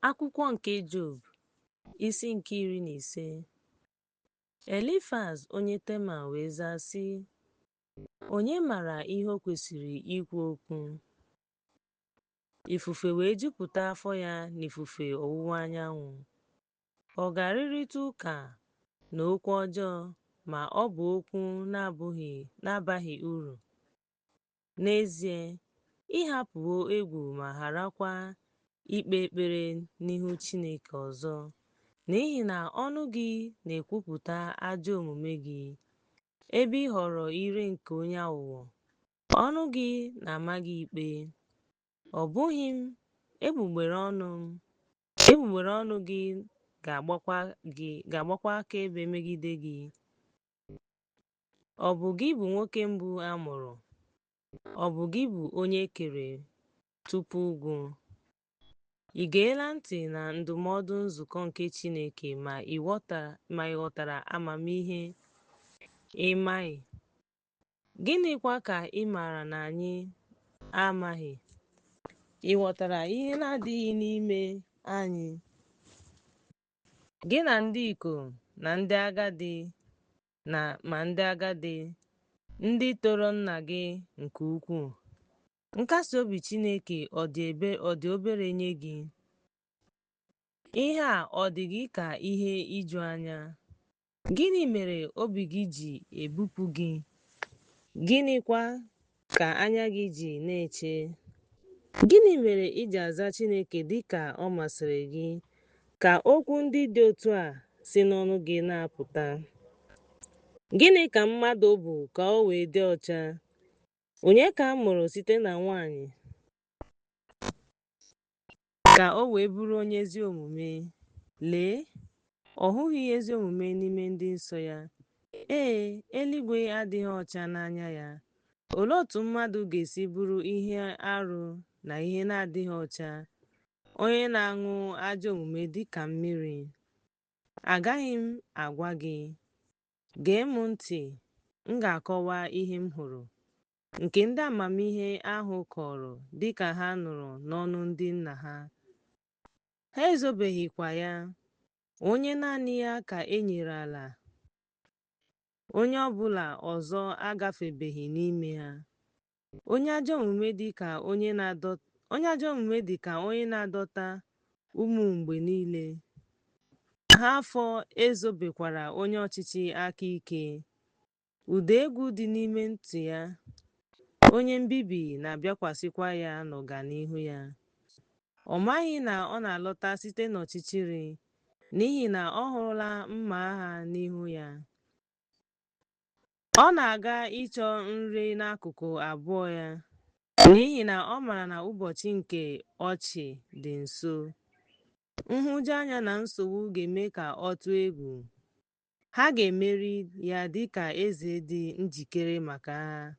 Akwụkwọ nke Job, isi nke iri na ise. Elifaz onye Teman wee zaa, sị, Onye mara ihe o kwesịrị ikwu okwu? Ifufe wee jupụta afọ ya n'ifufe ọwụwa anyanwụ. Ọ ga-arịrịta ụka na okwu ọjọọ ma ọ bụ okwu na-abaghị uru. N'ezie, ị hapụwo egwu ma gharakwa ikpe ekpere n'ihu Chineke ọzọ, n'ihi na ọnụ gị na-ekwupụta ajọ omume gị, ebe ị họrọ ire nke onye aghụghọ, ọnụ gị na-ama gị ikpe. Ọ bụghị m, egbugbere ọnụ gị ga-agbakwa akaebe megide gị. Ọ bụ gị bụ nwoke mbụ a mụrụ. Ọ bụ gị bụ onye e kere tupu ugwu. Ị geela ntị na ndụmọdụ nzukọ nke Chineke ma ị ghọtara amamihe ị maghị? Gịnịkwa ka ị maara na anyị amaghị? Ị ghọtara ihe na-adịghị n'ime anyị? Gị na ndị ikom na ndị agadi ma ndị agadi, ndị toro nna gị nke ukwuu. Nkasi obi Chineke ọ dị obere nye gị? Ihe a ọ dị gị ka ihe iju anya? Gịnị mere obi gị ji ebupụ gị? Gịnịkwa ka anya gị ji na-eche? Gịnị mere i ji aza Chineke dị ka ọ masịrị gị ka okwu ndị dị otu a si n'ọnụ gị na-apụta? Gịnị ka mmadụ bụ ka o wee dị ọcha? Onye ka a mụrụ site na nwaanyị? ka o wee bụrụ onye ezi omume. Lee, ọ hụghị ezi omume n'ime ndị nsọ ya. Ee, eluigwe adịghị ọcha n'anya ya. Olee otu mmadụ ga-esi bụrụ ihe arụ na ihe na-adịghị ọcha, onye na-aṅụ ajọ omume dị ka mmiri? Agaghị m agwa gị. Gee m ntị, m ga-akọwa ihe m hụrụ. nke ndị amamihe ahụ kọrọ dị ka ha nụrụ n'ọnụ ndị nna ha. Ha ezobeghịkwa ya. Onye naanị ya ka e nyere ala, onye ọ bụla ọzọ agafebeghị n'ime ha. Onye ajọ omume dị ka onye na-adọta ụmụ mgbe niile ha afọ ezobekwara onye ọchịchị aka ike Ụda egwu dị n'ime ntị ya, onye mbibi na-abịakwasịkwa ya n'ọganihu ya. Ọ maghị na ọ na-alọta site n'ọchịchịrị, n'ihi na ọ hụrụla mma agha n'ihu ya. Ọ na-aga ịchọ nri n'akụkụ abụọ ya, n'ihi na ọ mara na ụbọchị nke ọchị dị nso. Nhụjuanya na nsogbu ga-eme ka ọ tụọ egwu, ha ga-emeri ya dị ka eze dị njikere maka agha.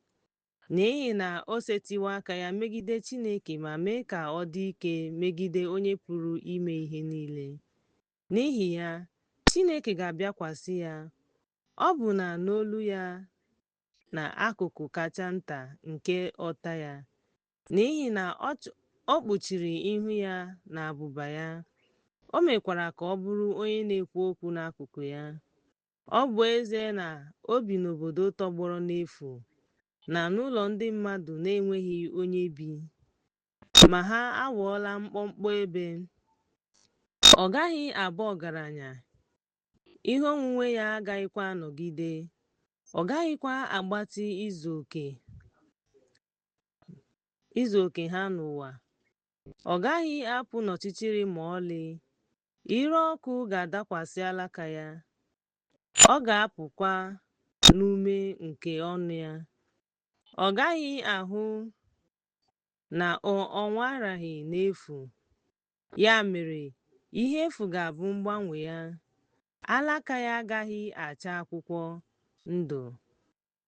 N'ihi na o setiwo aka ya megide Chineke ma mee ka ọ dị ike megide Onye Pụrụ Ime Ihe Niile. N'ihi ya, Chineke ga-abịakwasị ya, ọbụna n'olu ya na akụkụ kacha nta nke ọta ya, N'ihi na ọ ch- ọ kpuchiri ihu ya na abụba ya, o mekwara ka ọ bụrụ onye na-ekwu okwu n'akụkụ ya. Ọ bụ ezie na o bi n'obodo tọgbọrọ n'efu na n'ụlọ ndị mmadụ na-enweghị onye bi, ma ha aghọọla mkpọmkpọ ebe. Ọ gaghị abụ ọgaranya, ihe onwunwe ya agaghịkwa anọgide, ọ gaghịkwa agbatị izu oke. izu oke ha n'ụwa ọ gaghị apụ n'ọchịchịrị ma ọlị ire ọkụ ga-adakwasị alaka ya ọ ga-apụkwa n'ume nke ọnụ ya ọ gaghị ahụ na ọ nwaraghị n'efu ya mere ihe efu ga-abụ mgbanwe ya alaka ya agaghị acha akwụkwọ ndụ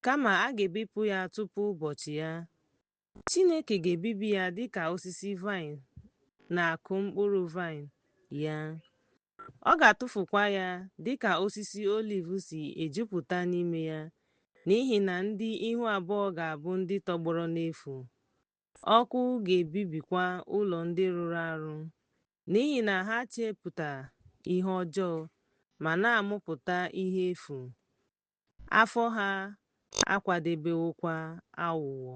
kama a ga-ebipụ ya tupu ụbọchị ya. Chineke ga-ebibi ya dị ka osisi vaịn na-akụ mkpụrụ vaịn ya. Ọ ga-atụfukwa ya dị ka osisi oliv si ejupụta n'ime ya, n'ihi na ndị ihu abụọ ga-abụ ndị tọgbọrọ n'efu. Ọkụ ga-ebibikwa ụlọ ndị rụrụ arụ, n'ihi na ha chepụta ihe ọjọọ ma na-amụpụta ihe efu. afọ ha akwadebewokwa aghụghọ.